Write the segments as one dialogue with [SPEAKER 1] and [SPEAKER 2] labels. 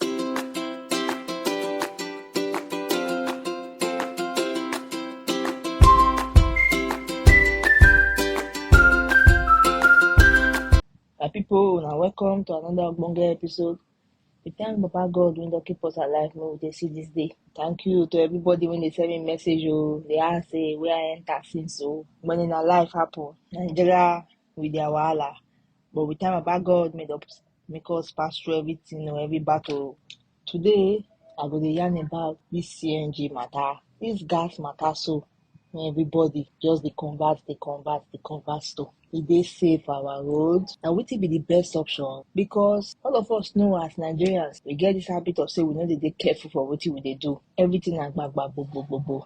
[SPEAKER 1] My people, now welcome to another Ogbonge episode. We thank Baba God when they keep us alive, may we dey see this day. Thank you to everybody when they send me message, oh, they ask, say, where I enter since, so when in our life happen, Nigeria with their wahala. But with time, about God made up make us pass through everything or every battle. Today, I go to yarn about this CNG matter, this gas matter. So everybody just the convert, the convert, the convert to. E dey safe for our road. Na wetin be the best option because all of us know as Nigerians, we get this habit of say we no dey dey careful for wetin we dey do. Everything na gbagba gbogbo gbogbo.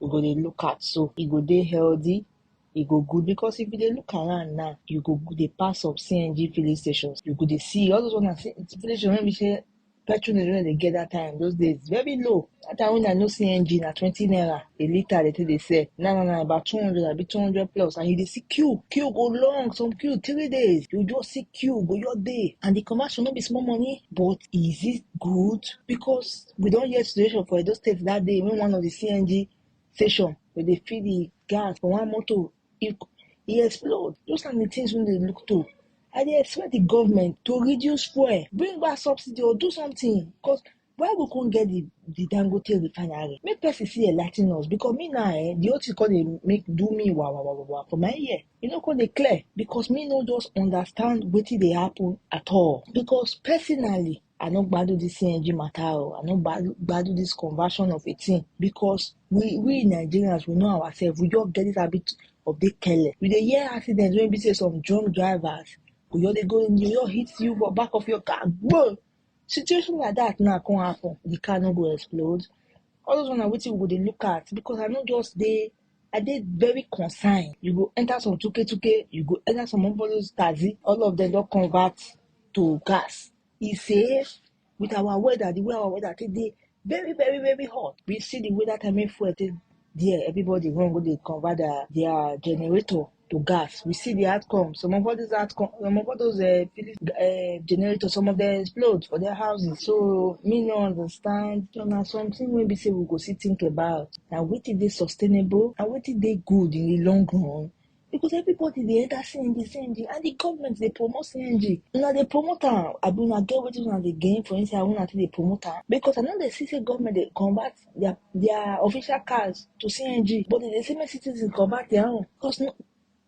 [SPEAKER 1] we go dey look at so e go dey healthy e go good because if you dey look around now you go go dey pass some cng filling stations you go dey see all those one na C- filling station wey be say petrol dem no dey get that time those days very low that time when i know cng na twenty naira a litre dey take dey sell now na na about two hundred abi two hundred plus and you dey see queue queue go long some queue three days you just see queue go your day and the conversion no be small money but is it good because we don hear situation for Edo State that day when one of the CNG station where they feed the gas for one motor, it, it explode. Those are the things we dey look to. I dey expect the government to reduce fuel, bring back subsidy or do something. Cause why we can't get the, the Dangote refinery? Make person see a lighting us because me now, eh, the whole thing called they make do me wow wow wow wow wow for my ear. You know, called they clear because me no just understand what they happen at all. Because personally, I no gbadu this CNG matter o. I no gbadu this conversion of a thing because we we Nigerians we know ourselves. We just get this habit of dey careless. We dey hear accidents wey be say some drunk drivers go just dey go dey just hit you for back of your car. Boom! Situation like that now come happen. The car no go explode. All those one na wetin we go dey look at because I no just dey I dey very concerned. You go enter some tuke tuke, you go enter some of those taxi, all of them don convert to gas. He say, with our weather, the way our weather take dey very, very, very hot. We see the weather time when fuel take there, everybody run go dey convert their, their generator. to gas. We see the outcome. Some of all these outcome, some of all those uh, Philips uh, generators, some of them explode for their houses. So me no understand. So now something we be say we go see think about. Now what is they sustainable and what is they good in the long run? Because everybody they enter CNG, CNG, and the government they promote CNG. Now they promote am. I be una get wetin una dey gain for inside una take dey promote am. Because I know they see say government dey convert their their official cars to CNG, but they dey say make citizens convert their own because no,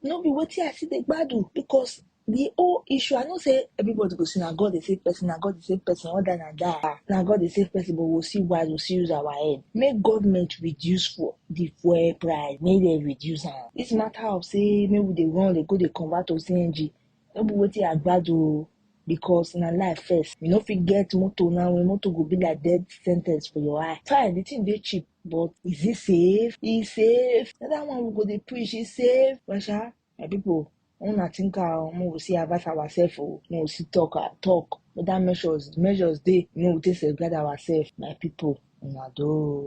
[SPEAKER 1] no be wetin I see dey gbadu because the whole issue I know say everybody go say na God dey save person, na God dey save person, all that na that, ah, na God dey save person but we still wise, we still use our head. Make government reduce for the fuel price, make dem reduce am. This matter of say make we dey run dey go dey convert to CNG no be wetin I gbadu o because na life first. You no fit get motor now when motor go be like death sentence for your eye. Fine, the thing dey cheap but is it safe? E safe? Na that one we go dey preach, e safe? But sha, my people, una think am o, make we see advise ourselves o, make we see talk am talk whether measures measures dey make we take safeguard ourselves. My people, una do o.